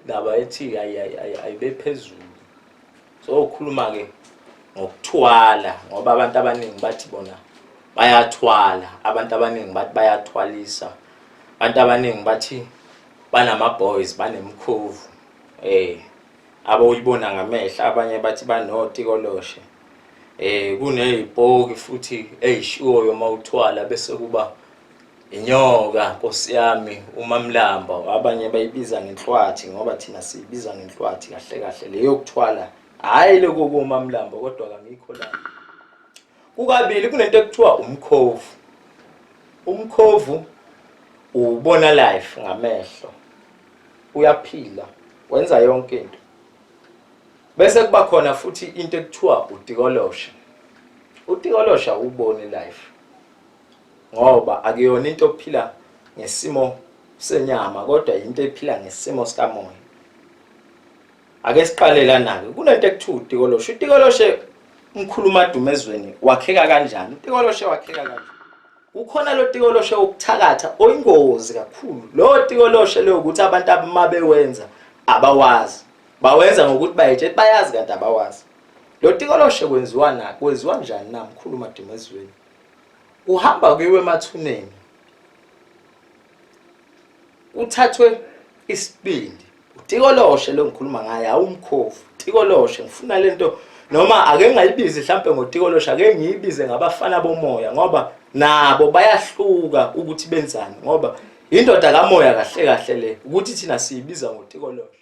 ndaba ethi ayibe phezulu so ukhuluma-ke ngokuthwala ngoba abantu abaningi bathi bona bayathwala abantu abaningi bathi bayathwalisa abantu abaningi bathi banama-boys banemkhovu um eh, aboyibona ngamehla abanye bathi banotikoloshe eh kuney'poki futhi ey'shiwoyo uma uthwala bese kuba Inyoka nkosi yami umamlamba abanye bayibiza ngenhlwathi ngoba thina siyibiza ngenhlwathi kahle kahle leyo kuthwala hayi lokho komamlamba kodwa kamikho la kukabili kunento ekuthiwa umkhovu umkhovu ubona life ngamehlo uyaphila wenza yonke into bese kuba khona futhi into ekuthiwa udikolosha udikolosha uboni life ngoba akuyona into okuphila ngesimo senyama kodwa yinto ephila ngesimo sikamoya ake siqale lana-ke kunento ekuthiwa utikoloshe utikoloshe umkhuluma adume ezweni wakheka kanjani utikoloshe wakheka kanjani kukhona lo tikoloshe wokuthakatha oyingozi kakhulu lo tikoloshe leyo ukuthi abantu abama bewenza abawazi bawenza ngokuthi bayetshe bayazi kanti abawazi lo tikoloshe kwenziwa na kwenziwa njani na mkhuluma adume ezweni kuhamba kuyiwe emathuneni kuthathwe isibindi utikoloshe lo ngikhuluma ngaye awumkhovu tikoloshe ngifuna lento noma ake ngayibizi mhlampe ngotikoloshe ake ngiyibize ngabafana bomoya ngoba nabo bayahluka ukuthi benzani ngoba indoda kamoya kahle kahle le ukuthi thina siyibiza ngotikoloshe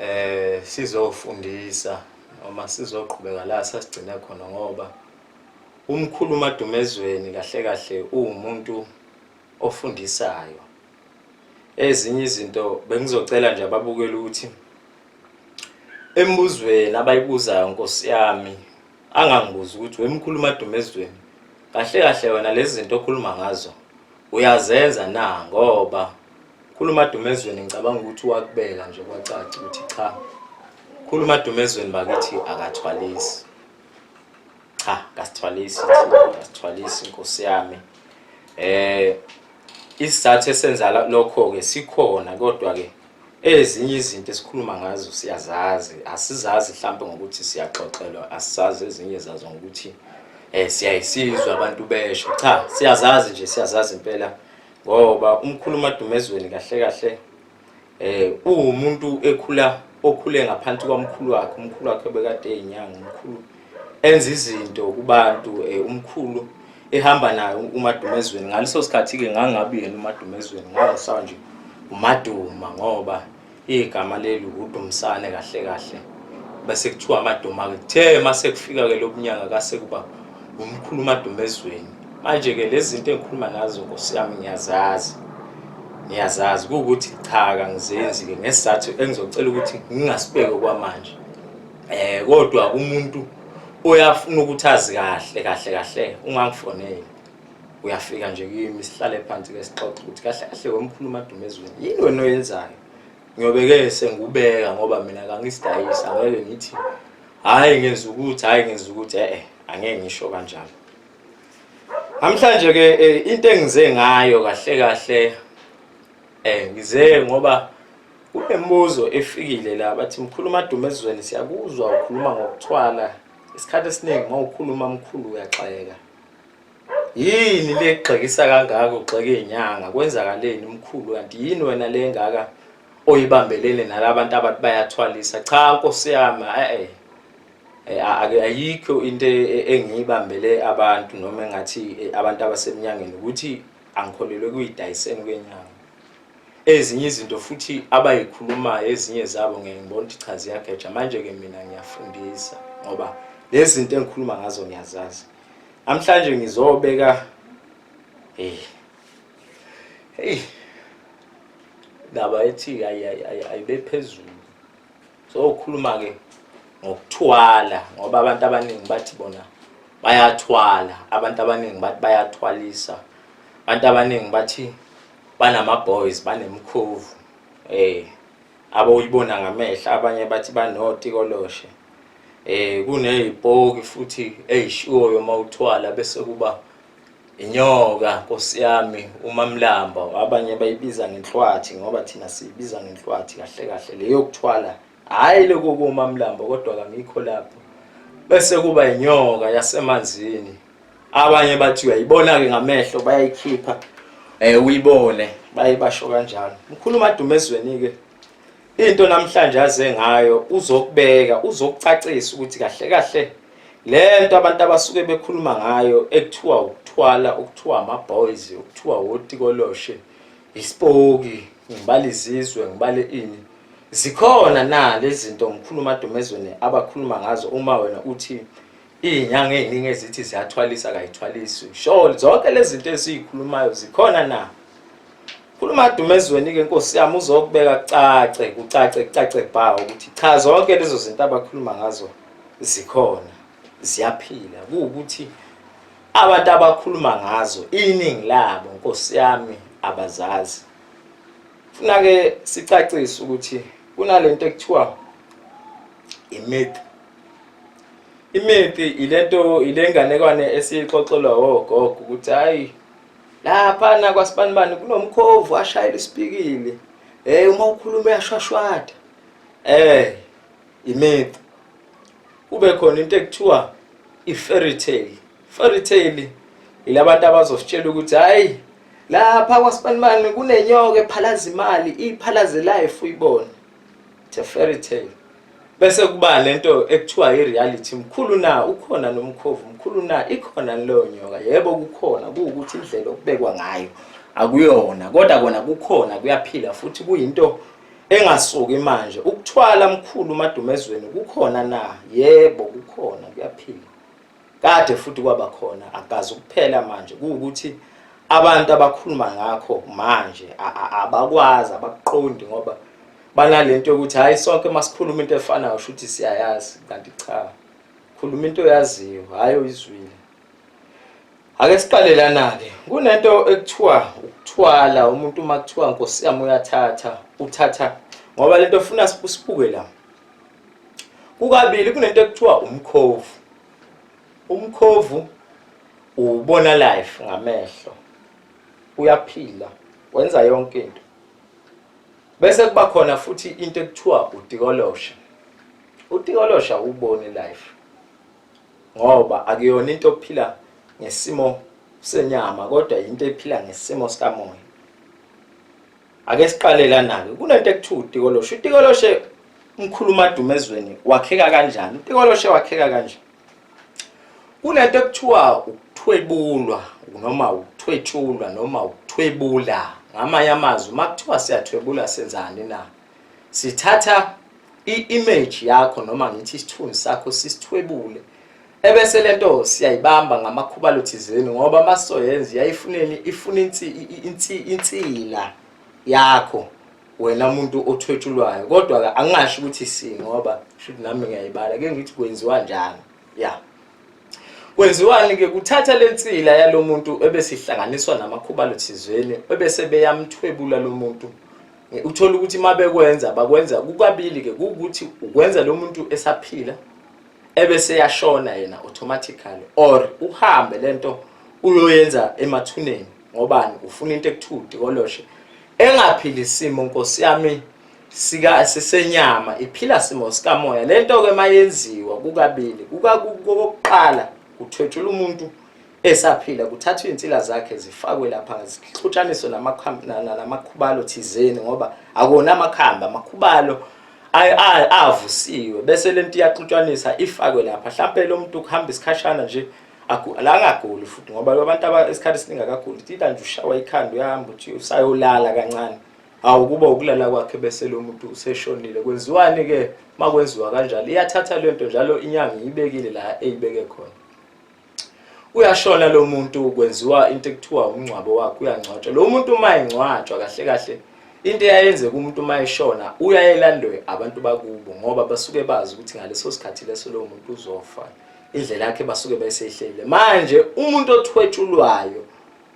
eh sizofundisa noma sizoqhubeka la sasigcine khona ngoba umkhulu uMadumezweni kahle kahle uwumuntu ofundisayo ezinye izinto bengizocela nje ababukela ukuthi embuzweni abayibuzayo nkosi yami angangibuza ukuthi wemkhulu uMadumezweni kahle kahle wena lezi zinto okhuluma ngazo Uyazenza na ngoba khuluma dumezweni ngicabanga ukuthi wakubeka nje kwacaca ukuthi cha khuluma dumezweni bakithi akathwalisi cha kasithwalisi kasithwalisi inkosi yami eh isizathu esenza lokho ke sikhona kodwa ke ezinye izinto esikhuluma ngazo siyazazi asizazi mhlawumbe ngokuthi siyaxoxelwa asisazi ezinye zazo ngokuthi um siyayisizwa abantu besho cha siyazazi nje siyazazi impela ngoba umkhulu umadumezweni kahle kahle um uwumuntu ekhula okhule ngaphansi kwamkhulu wakhe umkhulu wakhe obekade eyinyanga umkhulu enza izinto kubantu um umkhulu ehamba naye umadumezweni ngaleso sikhathi-ke ngangabi yena umadumezweni ngangisawa nje umaduma ngoba igama leli udumisane kahle kahle bese kuthiwa amaduma-ke kuthe uma sekufika-ke lo bunyanga kase kuba umkhulu umadumezweni manje-ke lezi zinto engikhuluma nazo nkosi yami ngiyazazi ngiyazazi kuwukuthi cha kangizenzi-ke ngesizathu engizocela ukuthi ngingasibeki okwamanje Eh kodwa umuntu oyafuna ukuthi azi kahle kahle kahle ungangifoneli. Uyafika nje kimi sihlale phansi ke sixoxe ukuthi kahle kahle wemkhulu madume ezweni. Yini wena oyenzayo? Ngiyobeke sengubeka ngoba mina kangisidayisa ngeke ngithi hayi ngenza ukuthi hayi ngenza ukuthi eh, eh angeke ngisho kanjalo. Namhlanje ke eh, into engize ngayo kahle kahle eh ngize ngoba Kunembuzo efikile la bathi mkhulu madume ezweni siyakuzwa ukhuluma ngokuthwala isikhathi esiningi uma ukhuluma mkhulu uyaxeka yini le gxekisa kangaka ugxeka izinyanga kwenzakaleni mkhulu kanti yini wena le ngaka oyibambelele nalabantu abathi bayathwalisa cha nkosi yami eh ayikho into engiyibambele abantu noma engathi abantu abaseminyangeni ukuthi angikholelwe kuyidayiseni kwenyanga ezinye izinto futhi abayikhulumayo ezinye zabo ngeke ngibona ukuthi cha ziyageja manje-ke mina ngiyafundisa ngoba lezi zinto engikhuluma ngazo ngiyazazi namhlanje ngizobeka hey hey ndaba ethi ayibe phezulu so ukhuluma ke ngokuthwala ngoba abantu abaningi bathi bona bayathwala abantu abaningi bathi bayathwalisa abantu abaningi bathi banama-boys banemkhovu um eh, abawuyibona ngamehla abanye bathi banotikoloshe um eh, kuney'poki futhi ey'shiwoyo uma uthwala bese kuba inyoka nkosi yami umamlamba abanye bayibiza ngenhlwathi ngoba thina siyibiza ngenhlwathi kahle kahle leyo kuthwala hhayi lokho komamlamba kodwa kangikho lapho bese kuba inyoka yasemanzini abanye bathi uyayibona-ke ngamehlo bayayikhipha um uyibone baye basho kanjalo mkhulu umadume ezweni-ke into namhlanje aze ngayo uzokubeka uzokucacisa ukuthi kahle kahle lento abantu abasuke bekhuluma ngayo ekuthiwa ukuthwala ukuthiwa ama-boys ukuthiwa wotikoloshe isipoki ngibala izizwe ngibale ini zikhona na lezi zinto ngikhuluma adomezweni abakhuluma ngazo uma wena uthi iy'nyanga ey'ningi ezithi ziyathwalisa kayithwalisi sure zonke lezi zinto eziyikhulumayo zikhona na khuluma adumezweni-ke nkosi yami uzokubeka kucace kucace kucace bhawo ukuthi cha zonke lezo zinto abakhuluma ngazo zikhona ziyaphila kuwukuthi abantu abakhuluma ngazo iningi labo nkosi yami abazazi funa ke sicacise ukuthi kunalento ekuthiwa imyth imyth ilento ilenganekwane esiyixoxelwa ogogo ukuthi hayi laphana kwasibanibani kunomkhovu ashayela isipikili hey uma ukhuluma uyashwashwada eh imith kube khona into ekuthiwa i-fairy tale fairy tale yilabantu abazositshela ukuthi hayi lapha kwasibanibani kunenyoka ephalaza imali iphalaze life uyibona it's a fairy tale bese kuba lento ekuthiwa i-reality mkhulu na ukhona nomkhovu mkhulu na ikhona leyo nyoka yebo kukhona kuwukuthi indlela okubekwa ngayo akuyona kodwa kona kukhona kuyaphila futhi kuyinto engasuki manje ukuthwala mkhulu madumezweni kukhona na yebo kukhona kuyaphila kade futhi kwaba khona akazi ukuphela manje kuwukuthi abantu abakhuluma ngakho manje abakwazi abakuqondi ngoba banalento yokuthi hayi sonke masikhuluma into efanayo shuthi siyayazi kanti cha khuluma into oyaziyo hayi oyizwile Ake siqale lana-ke kunento ekuthiwa ukuthwala umuntu uma kuthiwa nkosi yami uyathatha uthatha ngoba lento ofuna sibuke la kukabili kunento ekuthiwa umkhovu umkhovu ubona life ngamehlo uyaphila wenza yonke into bese kuba khona futhi into ekuthiwa udikolosha udikolosha ubone life ngoba akuyona into ophila ngesimo senyama kodwa yinto ephila ngesimo sikamoya ake siqale lana-ke kunento ekuthiwa utikoloshe utikoloshe umkhulu umadume ezweni wakheka kanjani utikoloshe wakheka kanje kunento ekuthiwa ukuthwebulwa noma ukuthwetshulwa noma ukuthwebula ngamanye amazwi uma kuthiwa siyathwebula senzani na sithatha i-image yakho noma ngithi isithunzi sakho sisithwebule ebese lento siyayibamba ngamakhubalo thizeni ngoba masoyenza yayifuneni ifuna insila yakho wena umuntu othwetshulwayo kodwa ke angingasho ukuthi si ngoba shuthi nami ngiyayibala ke ngithi kwenziwa njani ya kwenziwani ke kuthatha lensila yalomuntu ebesihlanganiswa namakhubalo thizeni ebese beyamthwebula lomuntu Uthola ukuthi uma bekwenza bakwenza kukabili-ke kuwukuthi ukwenza lo muntu esaphila ebe seyashona yena automatically or uhambe le nto uyoyenza emathuneni ngobani ufuna into ekuthiwa udikoloshe engaphili isimo nkosi yami sika sisenyama iphila simo sikamoya lento ke mayenziwa kukabili kukakuqala kuthwetshula umuntu Esaphila kuthathwa izinsila zakhe zifakwe lapha zixutshaniswe namakhubalo thizeni ngoba akona amakhamba amakhubalo avusiwe bese lento iyaxutshanisa ifakwe lapha mhlampe lo muntu kuhamba isikhashana nje la angaguli futhi ngoba abantu isikhathi esiningi akaguli tita nje ushawa ikhanda uyahamba uthi usayolala kancane hawu kuba ukulala kwakhe bese lo muntu useshonile kwenziwani-ke uma kwenziwa kanjalo iyathatha le nto njalo inyanga iyibekile la eyibeke khona uyashona lo muntu kwenziwa into ekuthiwa umngcwabo wakhe uyangcwatshwa lo muntu uma engcwatshwa kahle kahle into eyayenze kumuntu uma eshona uyayelandwe abantu bakubo ngoba basuke bazi ukuthi ngaleso sikhathi leso lowo muntu uzofa indlela yakhe basuke besehlele manje umuntu othwetshulwayo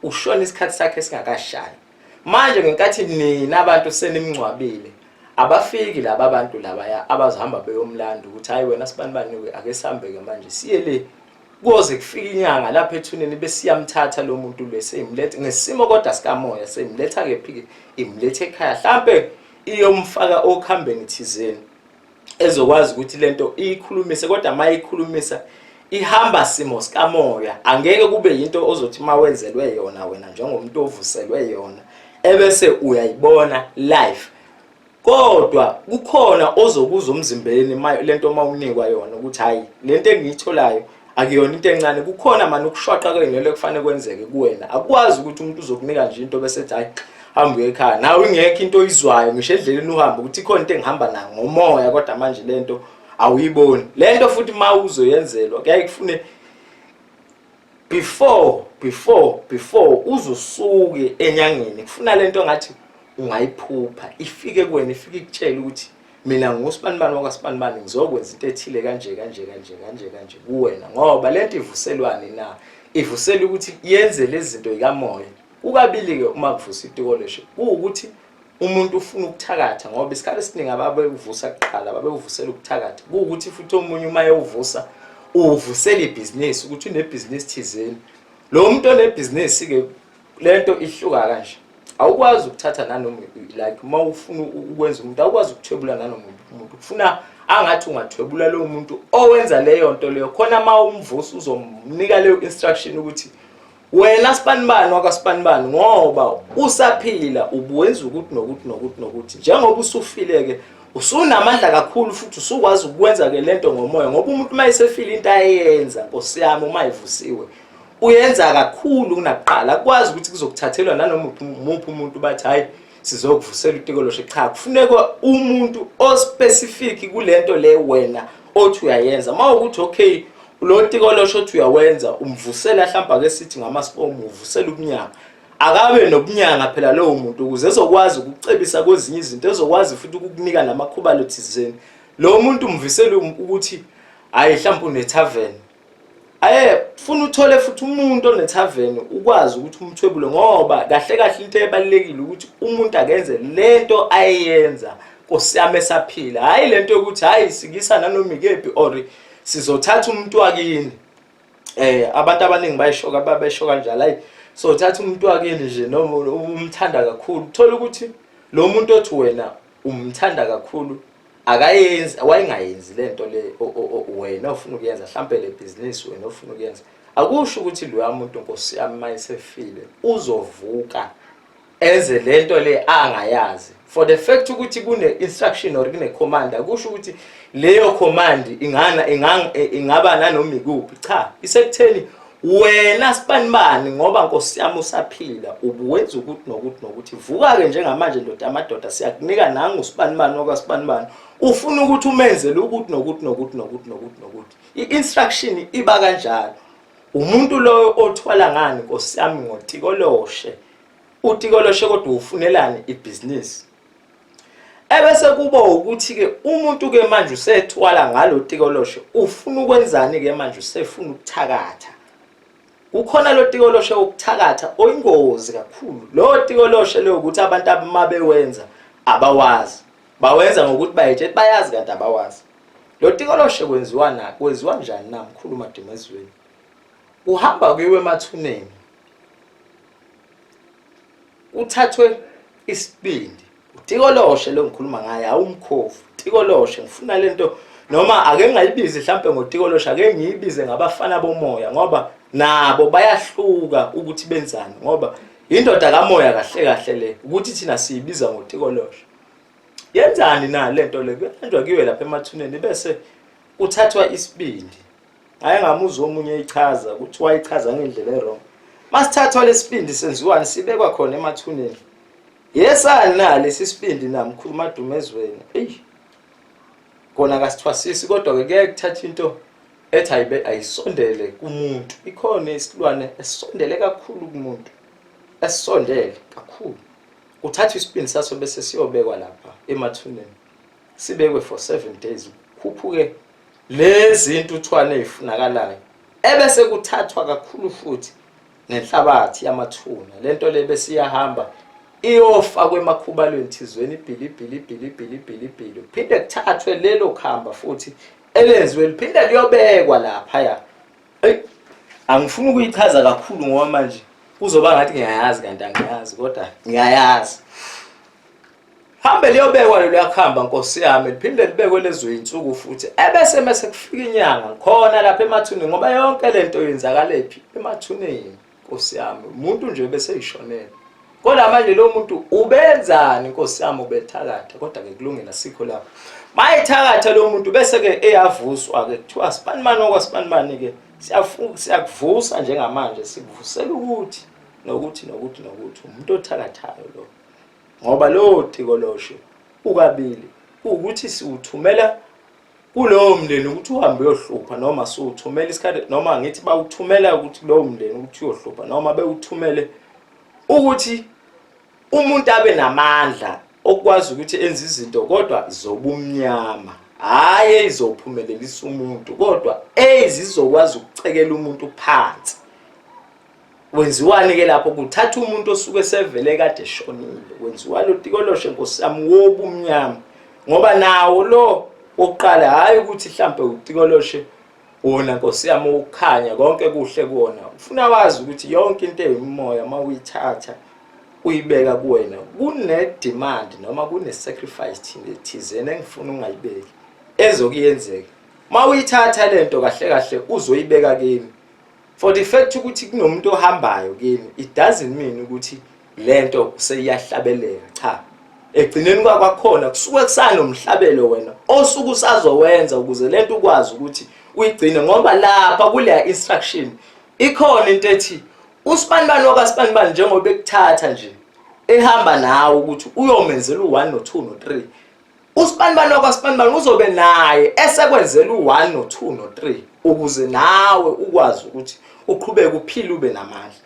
ushona isikhathi sakhe singakashayi manje ngenkathi nina abantu senimngcwabile abafiki laba abantu labaya abazohamba beyomlanda ukuthi hayi wena sibani bani ake sihambeke manje siye le kuze kufika inyanga lapha ethuneni besiyamthatha lo muntu le seyimlethe ngesimo kodwa sikamoya seyimletha kephi imlethe ekhaya mhlambe iyomfaka okhambeni thizeni ezokwazi ukuthi lento iyikhulumise kodwa uma iyikhulumisa ihamba simo sikamoya angeke kube yinto ozothi uma wenzelwe yona wena njengomuntu ovuselwe yona ebese uyayibona life kodwa kukhona ozokuza umzimbeni lento uma unikwa yona ukuthi hhayi lento engiyitholayo akuyona into encane kukhona mani ukushwaqa kwenelo ekufanele kwenzeke kuwena akwazi ukuthi umuntu uzokunika nje into bese ethi hayi hamba uye ekhaya nawe ingekho into oyizwayo ngisho edleleni uhamba ukuthi ikhona into engihamba nayo ngomoya kodwa manje le nto awuyiboni le nto futhi uma uzoyenzelwa kuyaye kufune before before before uzosuke enyangeni kufuna le nto ngathi ungayiphupha ifike kuwena ifike ikutshela ukuthi mina ngusbanibani wakasbanibani ngizokwenza into ethile kanje kanje kanje kanje kanje kuwena ngoba lento ivuselwani na ivusela ukuthi yenze lezinto ikamoya ukabili ke uma kuvusa itikoleshe ukuthi umuntu ufuna ukuthakatha ngoba isikhathi esiningi ababevusa kuqala babevusela ukuthakatha ukuthi futhi omunye uma ewuvusa uvusela ibhizinisi ukuthi unebhizinisi thizeni lo muntu onebhizinisi ke lento ihluka kanje awukwazi ukuthatha nanoma like uma ufuna ukwenza umuntu awukwazi ukuthwebula nanoma umuntu kufuna angathi ungathwebula lowo muntu owenza leyo nto leyo khona uma umvusi uzomnika leyo instruction ukuthi wena sibanibani wakasibanibani ngoba usaphila ubuwenza ukuthi nokuthi nokuthi nokuthi njengoba usufileke usunamandla kakhulu futhi usukwazi ukwenza ke lento ngomoya ngoba umuntu uma esefile into ayenza nkosi yami uma evusiwe uyenza kakhulu kunakuqala akwazi ukuthi kuzokuthathelwa nanoma umuphi umuntu bathi hayi sizokuvusela utikoloshe cha kufuneka umuntu ospecific kulento le wena othi uyayenza uma ukuthi okay lo tikoloshe othi uyawenza umvusela mhlawumbe ake sithi ngamaspom uvusela ubunyanga akabe nobunyanga phela lowo muntu ukuze ezokwazi ukucebisa kwezinye izinto ezokwazi futhi ukukunika namakhuba lothizeni lo muntu umvisela ukuthi hayi mhlawumbe unetavern aye funa uthole futhi umuntu onethaveni ukwazi ukuthi umthwebule ngoba kahle kahle into ebalekile ukuthi umuntu akenze lento ayenza kosiyame saphila hayi lento yokuthi hayi sikisa nanoma ikephi or sizothatha umuntu wakini eh abantu abaningi bayishoka babesho kanjalo hayi so thatha umuntu wakini nje noma umthanda kakhulu thola ukuthi lo muntu othi wena umthanda kakhulu akayenzi wayengayenzi lento le wena ofuna ukuyenza mhlambe le business wena ofuna ukuyenza akusho ukuthi lo yamuntu nkosi yami mayisefile uzovuka enze lento le angayazi for the fact ukuthi kune instruction or kune command akusho ukuthi leyo command ingana ingaba nanoma ikuphi cha isekutheni wena sibanibani ngoba nkosi yami usaphila ubuwenza ukuthi nokuthi nokuthi vuka-ke njengamanje ndoda amadoda siyakunika nangu usibanibani okwasibanibani ufuna ukuthi umenzele ukuthi nokuthi nokuthi nokuthi nokuthi nokuthi i-instruction iba kanjalo umuntu loyo othwala ngani nkosi yami ngotikoloshe utikoloshe kodwa ufunelani ibhizinisi ebese kuba ukuthi ke umuntu ke manje usethwala ngalo tikoloshe ufuna ukwenzani ke manje usefuna ukuthakatha ukhona lo tikoloshe wokuthakatha oyingozi kakhulu lo tikoloshe leyo ukuthi abantu abama bewenza abawazi bawenza ngokuthi bayetshe bayazi kanti abawazi lo tikoloshe kwenziwa na kwenziwa njani na mkhulu madimezweni uhamba kuyiwe emathuneni Uthathwe isibindi. UTikoloshe lo ngikhuluma ngaye awumkhovu. Tikoloshe ngifuna lento noma ake ngayibizi mhlambe ngoTikoloshe ake ngiyibize ngabafana bomoya ngoba nabo bayahluka ukuthi benzani ngoba indoda kamoya kahle kahle le ukuthi thina siyibiza ngoTikoloshe. Yenzani na lento le kuyanjwa kuyiwe lapha emathuneni bese uthathwa isibindi. Hayi ngamuzwa omunye eyichaza ukuthi wayichaza ngendlela ewrong. Masithathwa lesibindi senziwani sibekwa khona emathuneni. Yesani na lesi sibindi na mkhulu madume ezweni. Ey. Kona kasithwasisi kodwa ke kuye kuthatha into ethi ayibe ayisondele kumuntu. Ikhona isilwane esondele kakhulu kumuntu. Esondele kakhulu. Uthatha isibindi saso bese siyobekwa lapha emathuneni. Sibekwe for 7 days. Khuphuke Lezi intuthwane ezifunakalayo ebese kuthathwa kakhulu futhi nenhlabathi yamathuna lento le besiyahamba iyofa kwemakhubalweni thizweni ibhilibhili ibhilibhili ibhilibhili kuphinde kuthathwe lelo khamba futhi elenziwe liphinde liyobekwa lapha ya eyi angifuni ukuyichaza kakhulu ngoba manje kuzoba ngathi ngiyayazi kanti angiyazi kodwa ngiyayazi Hambe liyobekwa lelo yakuhamba Nkosi yami liphinde libekwe lezo insuku futhi ebese mase kufika inyanga khona lapha emathuneni ngoba yonke lento yenzakalaphi emathuneni Nkosi yami umuntu nje bese yishonela kodwa manje lo muntu ubenzani Nkosi yami ubethakatha kodwa ke kulungela sikho lapho mayithakatha lo muntu bese ke eyavuswa ke kuthiwa sibani mani okwasibani mani ke siyakuvusa njengamanje sikuvusela ukuthi nokuthi nokuthi nokuthi umuntu othakathayo lo ngoba lowo tikoloshe ukabili ukuthi siwuthumela kulowo mndeni ukuthi uhambe uyohlupha noma siwuthumela isikhathi noma ngithi bawuthumela ukuthi lowo mndeni ukuthi uyohlupha noma bewuthumele ukuthi umuntu abe namandla okwazi ukuthi enze izinto kodwa zobumnyama hhayi eyizophumelelisa umuntu kodwa ezizokwazi ukucekela umuntu phansi Wenziwani ke lapho kuthatha umuntu osuke sevele kade shonile wenziwa lo tikoloshe nkosami wobumnyama ngoba nawo lo wokuqala hayi ukuthi mhlambe utikoloshe wona nkosi yami ukukhanya konke kuhle kuona ufuna wazi ukuthi yonke into eyomoya mawuyithatha uyibeka kuwena kune demand noma kune sacrifice thina thizeni engifuna ungayibeki ezokuyenzeka mawuyithatha lento kahle kahle uzoyibeka kimi for the fact ukuthi kunomuntu ohambayo kini it doesn't mean ukuthi lento seyiyahlabeleka cha egcineni kwakwakhona kusuke kusanomhlabelo wena osuku usazowenza ukuze lento ukwazi ukuthi uyigcine ngoba lapha kuleya instruction ikhona into ethi usibanibani wakasibanibani njengoba ekuthatha nje ehamba nawe ukuthi uyomenzela u-1 no-2 no-3 Usibanibani wakwaSibanibani uzobe naye esekwenzela u-1 no-2 no-3 ukuze nawe ukwazi ukuthi uqhubeke uphile ube namandla.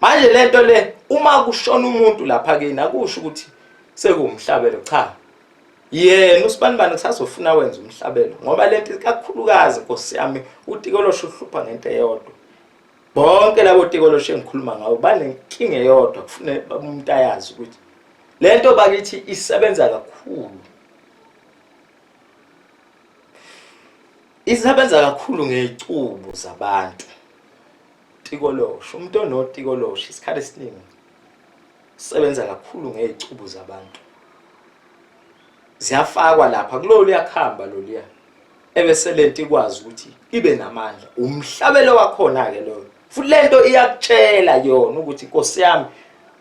Manje le nto le uma kushona umuntu lapha kini akusho ukuthi sekuwumhlabelo cha. Yena uSibanibani kusazofuna wenza umhlabelo ngoba le nto kakhulukazi Nkosi yami uTikolosho uhlupha ngento eyodwa. bonke labo tikoloshe engikhuluma ngawo banenkinga eyodwa kufune umuntu ayazi ukuthi le nto bakithi isebenza kakhulu isebenza kakhulu ngey'cubu zabantu tikoloshe umuntu onotikoloshe isikhathi esiningi sebenza kakhulu ngey'cubu zabantu ziyafakwa lapha kulolu yakuhamba loluya ebese lento ikwazi ukuthi ibe namandla umhlabelo wakhona ke loyo futhi lento iyakutshela yona ukuthi Nkosi yami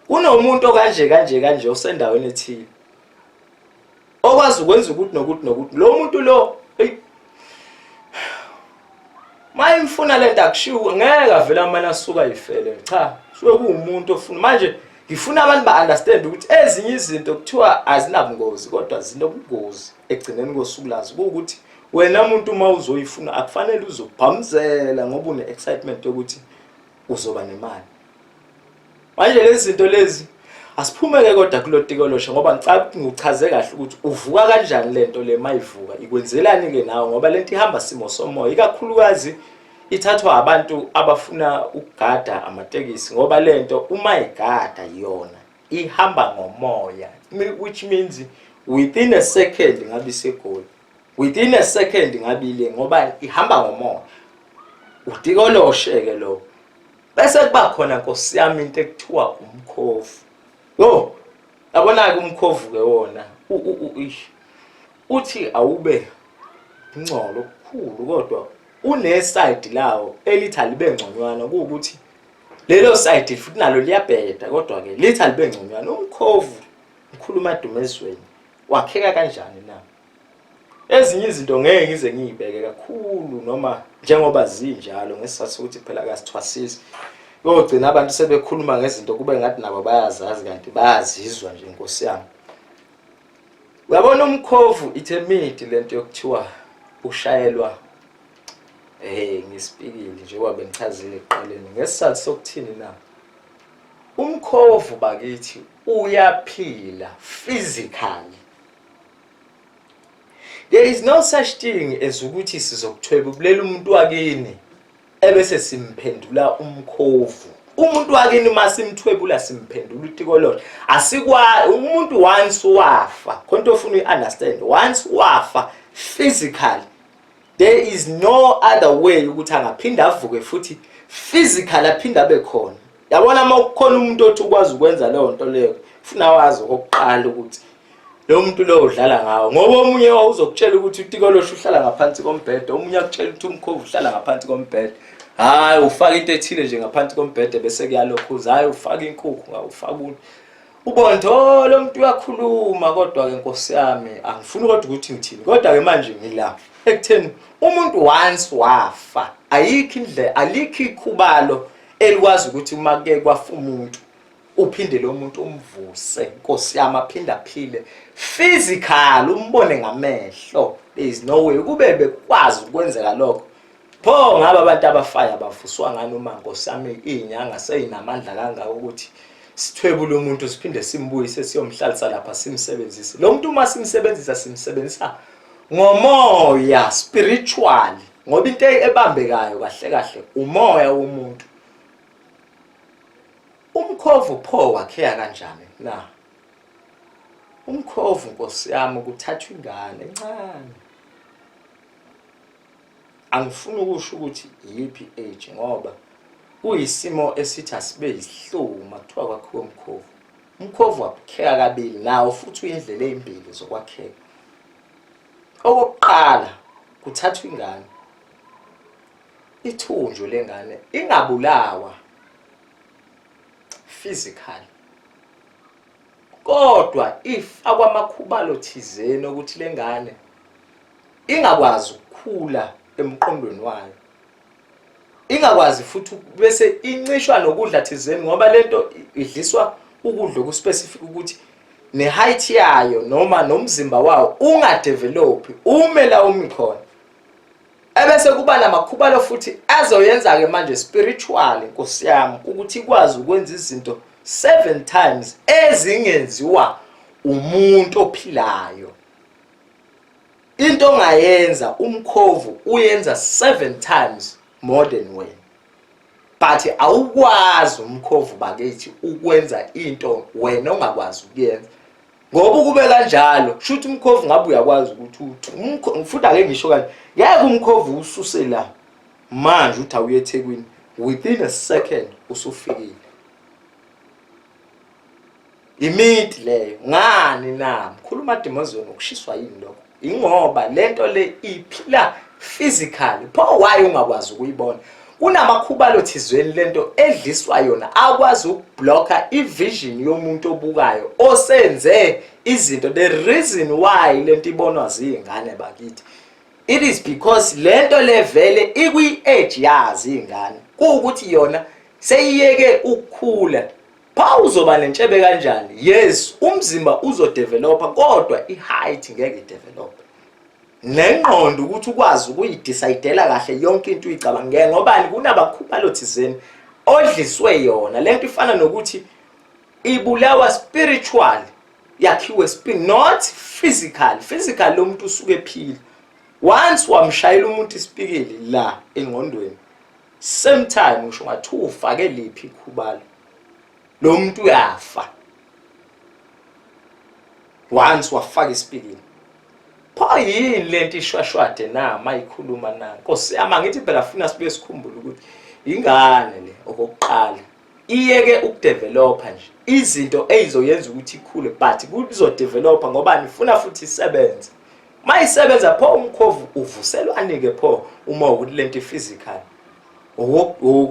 kunomuntu okanje kanje kanje osendaweni ethile okwazi ukwenza ukuthi nokuthi nokuthi lo muntu lo mayimfuna lento akushiwo ngeke avela manje asuka yifele cha sho kuwumuntu ofuna manje Ngifuna abantu ba understand ukuthi ezinye izinto kuthiwa azinabungozi kodwa zinobungozi ekugcineni kosuku lazo ukuthi wena muntu uma uzoyifuna akufanele uzobhamzela ngoba une excitement yokuthi uzoba nemali manje lezi zinto lezi asiphumeke kodwa kulotiko losha ngoba ngicabanga ukuthi ngichaze kahle ukuthi uvuka kanjani lento le mayivuka ikwenzelani ke nawe ngoba lento ihamba simo somoya ikakhulukazi ithathwa abantu abafuna ukugada amatekisi ngoba lento uma igada yona ihamba ngomoya which means within a second ngabe isegoli within a second ngabe ile ngoba ihamba ngomoya udikoloshe ke lo bese kuba khona nkosi yami into ekuthiwa umkhovu yo yabona ke umkhovu ke wona uthi awube ingcolo okukhulu kodwa Unesayidi lawo elithi alibe ngconywana kuwukuthi lelo sayidi futhi nalo liyabheda kodwa-ke lithi alibe ngconywana umkhovu ngikhuluma edumezweni wakheka kanjani na ezinye izinto ngeke ngize ngiyibeke kakhulu noma njengoba zinjalo ngesizathu sokuthi phela kasithwasisi kogcina abantu sebekhuluma ngezinto kube ngathi nabo bayazazi kanti bayazizwa nje nkosi yami uyabona umkhovu ithemidi lento yokuthiwa ushayelwa eh ngisipikile njengoba bengichazile ekuqaleni ngesizathu sokuthini na umkhovu bakithi uyaphila physically there is no such thing as ukuthi sizokuthwebulela umuntu wakini ebese simphendula umkhovu umuntu wakini masimthwebula simphendula utikololo asikwa umuntu once wafa khonto ofuna uyiunderstand once wafa physically there is no other way ukuthi angaphinde avuke futhi physical aphinde abe khona yabona uma kukhona umuntu othi ukwazi ukwenza leyo nto leyo funa wazi okokuqala ukuthi lo muntu lowo udlala ngawo ngoba omunye wawuzokutshela ukuthi utikolosho uhlala ngaphansi kombhede omunye akutshela ukuthi umkhovu uhlala ngaphansi kombhede hhayi ufaka into ethile nje ngaphansi kombhede bese kuyalokhuza hhayi ufaka inkukhu ngawufaka umuntu ubonto oh, lo muntu uyakhuluma kodwa-ke nkosi yami angifuni kodwa ukuthi ngithini kodwa-ke manje ngila ekutheni umuntu once wafa ayikho indlela alikho ikhubalo elikwazi ukuthi uma ke kwafa umuntu uphinde lo muntu umvuse nkosi yami aphinde aphile physical umbone ngamehlo there is no way kube bekwazi ukwenzeka lokho pho ngaba abantu abafaya bavuswa ngani uma nkosi yami izinyanga seyinamandla kangaka ukuthi sithwebule umuntu siphinde simbuyise siyomhlalisa lapha simsebenzise lo muntu uma simsebenzisa simsebenzisa ngomoya spiritual ngoba into ebambekayo kahle kahle umoya womuntu Umkhovu pho wakhea kanjani na? Umkhovu nkosi yami kuthathwa ingane encane. Angifuni ukusho ukuthi yiphi age ngoba kuyisimo esithi asibe yisihlungu makuthiwa kwakhiwa umkhovu. Umkhovu wakheka kabili nawo futhi uyindlela ezimbili zokwakheka. Okokuqala kuthathwa ingane ithunjwe lengane ingabulawa physically kodwa if akwamakhubalo thizeni ukuthi lengane ingakwazi ukukhula emqondweni wayo ingakwazi futhi bese incishwa nokudla thizeni ngoba lento idliswa ukudla okuspecific ukuthi ne height yayo noma nomzimba wawo ungadevelop umela umi khona ebese kuba namakhubalo futhi azoyenza-ke manje spiritually nkosi yami ukuthi ikwazi ukwenza izinto seven times ezingenziwa umuntu ophilayo into ongayenza umkhovu uyenza seven times more than wena but awukwazi umkhovu bakithi ukwenza into wena ongakwazi ukuyenza ngoba ukube kanjalo shuthi umkhovu ngabe uyakwazi ukuthi uthi ngifuna ake ngisho kanje ngeke umkhovu ususe la manje uthi awuye ethekwini within a second usufikile imidi leyo ngani na mkhulu umadimozweni ukushiswa yini lokho ingoba lento le iphila physically pho why ungakwazi ukuyibona kunamakhubalo thizweni lento edliswa yona akwazi ukublocka ivision yomuntu obukayo osenze izinto the reason why lento ibonwa zingane bakithi it is because lento levele ikwi edge yazi ingane kuukuthi yona seyiyeke ukukhula Pha uzoba nentshebe kanjani? Yes, umzimba uzodevelopa kodwa i-height ngeke idevelope. Nengqondo ukuthi ukwazi ukuyidecidela kahle yonke into uyicabangele ngobani kunabakhubalo thizeni odliswe yona. Lento ifana nokuthi ibulawa spiritual yakhiwe spirit not physical. Physical lo muntu usuke ephila. Once wamshayela umuntu isipikili la engqondweni same time ngisho ngathi ufake liphi ikhubalo lo muntu uyafa once wafaka isipikini pho yini lento ishwashwade na mayikhuluma na nkosi yami angithi phela funa sibe sikhumbula ukuthi ingane le okokuqala iyeke ukudevelopa nje izinto ezizoyenza ukuthi ikhule but kuzodevelopa ngoba nifuna futhi isebenze mayisebenza pho umkhovu uvuselwani ke pho uma ukuthi lento physical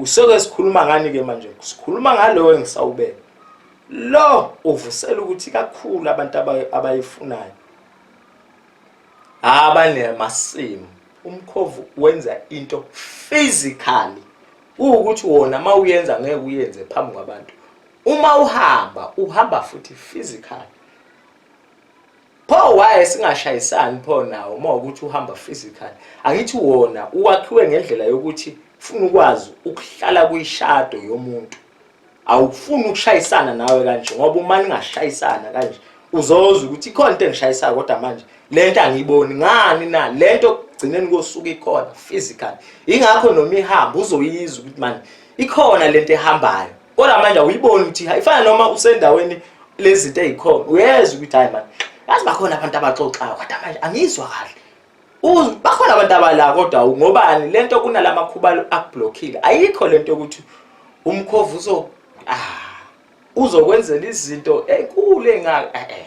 soke sikhuluma ngani ke manje sikhuluma ngalowo engisawubeka lo uvusela ukuthi kakhulu abantu abayifunayo abanamasimu umkhovu wenza into physically ukuthi wona mawuyenza ngeke uyenze phambi kwabantu uma uhamba uhamba futhi physically Pho why singashayisani pho nawo uma ukuthi uhamba physical. Angithi wona uwakhiwe ngendlela yokuthi ufuna ukwazi ukuhlala kuyishado yomuntu. Awufuni ukushayisana nawe kanje ngoba uma ningashayisana kanje uzozwa ukuthi ikhona into engishayisayo kodwa manje lento angiyiboni ngani na lento kugcineni kosuku ikhona physical. Ingakho noma ihamba uzoyizwa ukuthi manje ikhona lento ehambayo kodwa manje awuyiboni ukuthi ifana noma usendaweni lezinto ezikhona uyezwa ukuthi hayi manje yazi bakhona abantu abaxoxayo kodwa manje angizwa kahle bakhona abantu abala kodwa ngobani lento kunalama khuba akublockile ayikho lento ukuthi umkhovu uzo ah uzokwenzela izinto enkulu engaka eh, eh.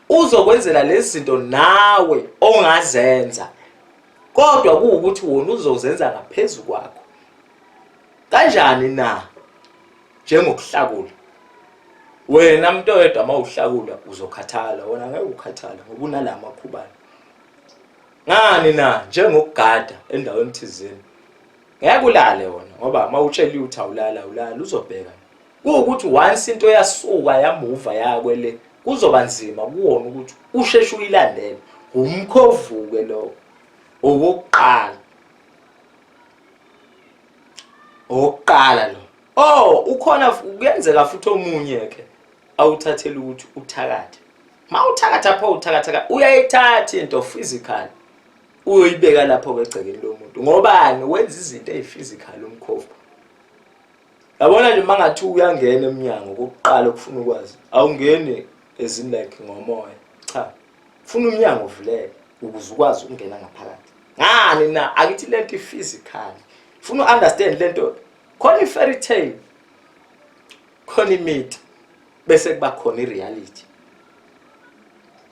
uzokwenzela lezi zinto nawe ongazenza kodwa kuwukuthi wona uzozenza ngaphezulu kwakho kanjani na njengokuhlakula wena mntu oyedwa uma uhlakula uzokhathala wona ngeke ukhathala ngoba unala makhubane ngani na njengokugada endaweni thizeni ngeke ulale wona ngoba uma utsheliwe ukuthi awulala awulala uzobheka kuwukuthi once into yasuka yamuva yakwele kuzoba nzima kuwona ukuthi usheshe uyilandele umkhovuke lowo owokuqala owokuqala lo oh ukhona kuyenzeka futhi omunye ke awuthathele ukuthi uthakathe ma uthakatha pho uthakatha uyayithatha into physical uyoyibeka lapho ke egcekeni lomuntu ngobani wenza izinto eziphysical umkhovu yabona nje uma ngathi uyangena emnyango kokuqala okufuna ukwazi awungeni ezini like ngomoya cha funa umnyango uvuleke ukuze ukwazi ukungena ngaphakathi ngani na akithi le nto i-physical funa u-understand le nto khona i-fairy tale khona imithi bese kuba khona i-reality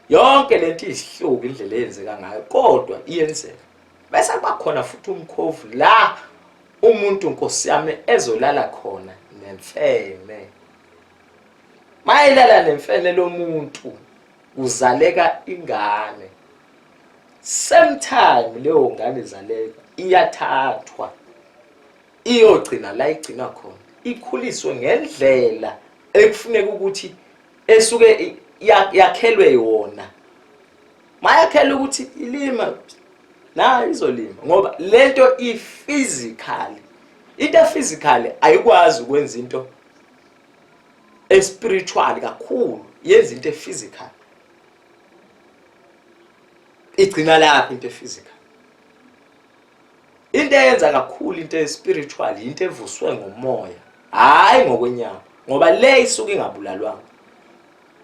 yonke le nto izihluka indlela eyenzeka ngayo kodwa iyenzeka bese kuba khona futhi umkhovu la umuntu nkosi yami ezolala khona nemfene mayelala nemfene lomuntu kuzaleka ingane same time leyo ngane izaleka iyathathwa iyogcina la igcina khona ikhuliswe ngendlela ekufuneka ukuthi esuke yakhelwe yona mayakhela ukuthi ilima nayo izolima ngoba lento i-physical into e-physical ayikwazi ukwenza into espiritual kakhulu yenza into e-physical igcina lapho into e-physical into eyenza kakhulu into e-spiritual into evuswe ngomoya hhayi ngokwenyama ngoba le isuke ingabulalwanga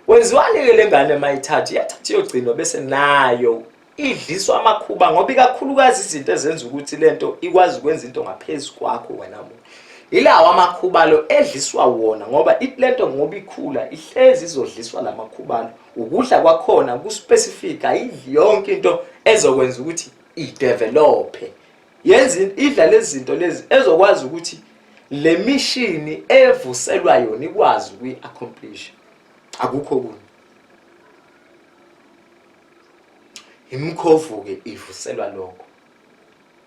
Wenziwani ke lengane mayithatha iyathatha iyogcinwa bese nayo idliswa amakhuba ngoba ikakhulukazi izinto ezenza ukuthi lento ikwazi ukwenza into ngaphezulu kwakho wena muntu ilawo amakhubalo edliswa wona ngoba lento ngoba ikhula ihlezi izodliswa lamakhubalo ukudla kwakhona ku specific ayidli yonke into ezokwenza ukuthi i develop yenza idla lezi zinto lezi ezokwazi ukuthi le mishini evuselwa yona ikwazi ukuyi-accomplish akukho kunye imkhovu-ke ivuselwa lokho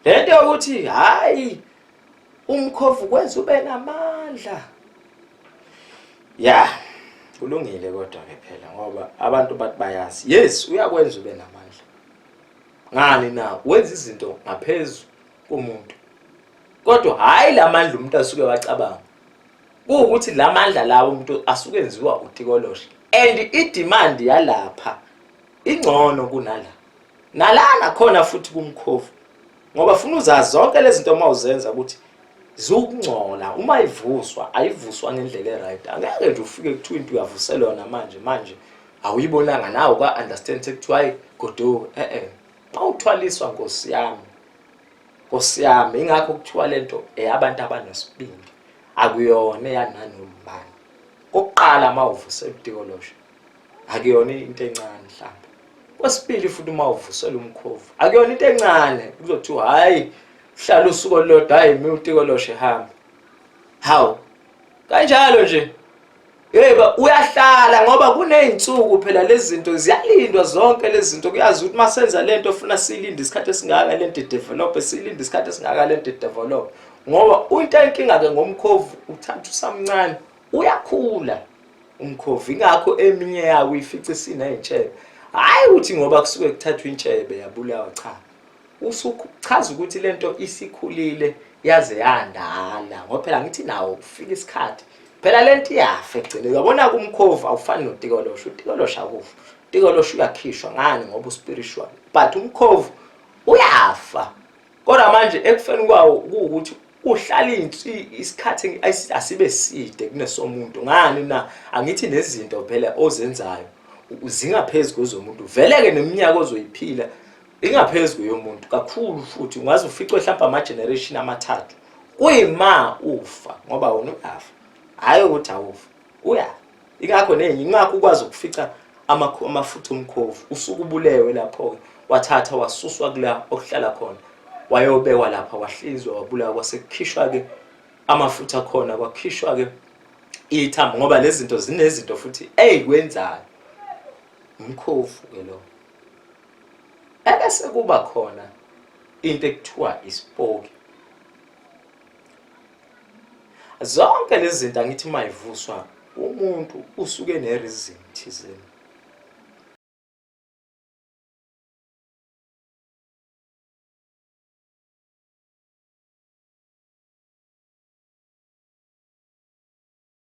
le nto yokuthi hhayi umkhovu kwenza ube namandla ya kulungile kodwa-ke phela ngoba abantu bathi bayazi yes uyakwenza ube namandla ngani na wenza izinto ngaphezu komuntu kodwa hhayi la mandla umuntu asuke wacabanga kuwukuthi la mandla lawo umuntu asuke enziwa utikoloshe and idimandi yalapha ingcono kunala nalana khona futhi kumkhovu ngoba funa uzazi zonke lezi zinto uma uzenza ukuthi ziwukungcola uma ivuswa ayivuswa ngendlela e-right angeke nje ufike kuthiwa into uyavuselwa yona manje manje awuyibonanga nawe ka understand sekuthiwa hayi goduka eh eh mawuthwaliswa nkosi yami nkosi yami ingakho kuthiwa lento eyabantu abanesibindi akuyona yananobani kokuqala mawuvusa ebutikolosho akuyona into encane mhlawumbe kwesibili futhi uma uvusela umkhovu akuyona into encane kuzothiwa hayi uhlala usuku olulodwa hayi mi utikolosho ehamba hawu kanjalo nje Yebo uyahlala ngoba kuney'nsuku phela lezi zinto ziyalindwa zonke lezi zinto kuyazi ukuthi uma senza le nto funa siyilinde isikhathi esingaka le nto idevelophe siyilinde isikhathi esingaka le nto idevelophe ngoba into enkinga-ke ngomkhovu uthatha usamncane uyakhula umkhovu ingakho eminye yawo ifice isiney'ntshebe hhayi ukuthi ngoba kusuke kuthathwa intshebe yabulawa cha usuchaza ukuthi lento isikhulile yaze yandala ngoba phela ngithi nawo kufika isikhathi phela lento iyafa egcine uyabona kumkhovu awufani notikolosha utikolosha akufa utikolosha uyakhishwa ngani ngoba uspiritual but umkhovu uyafa kodwa manje ekufeni kwawo kuwukuthi uhlala insi isikhathi asibe side kunesomuntu ngani na angithi nezinto phela ozenzayo zingaphezulu kwezomuntu vele ke neminyaka ozoyiphila ingaphezu yomuntu kakhulu futhi ungaze uficwe mhlawumbe ama-generation amathathu kuyima ufa ngoba wona uyafa hhayi ukuthi awufa uya ingakho nenye ingakho ukwazi ukufica amafutha omkhovu usuke ubulewe lapho-ke wathatha wasuswa kula okuhlala khona wayobekwa lapha wahlizwa wabulawa kwasekukhishwa-ke amafutha khona kwakhishwa-ke ithambo ngoba lezi zinto zinezinto futhi eyikwenzayo umkhovu-ke lowo ebese kuba khona into ekuthiwa isipoki zonke lezi zinto angithi uma ivuswa umuntu usuke nerizini thizeni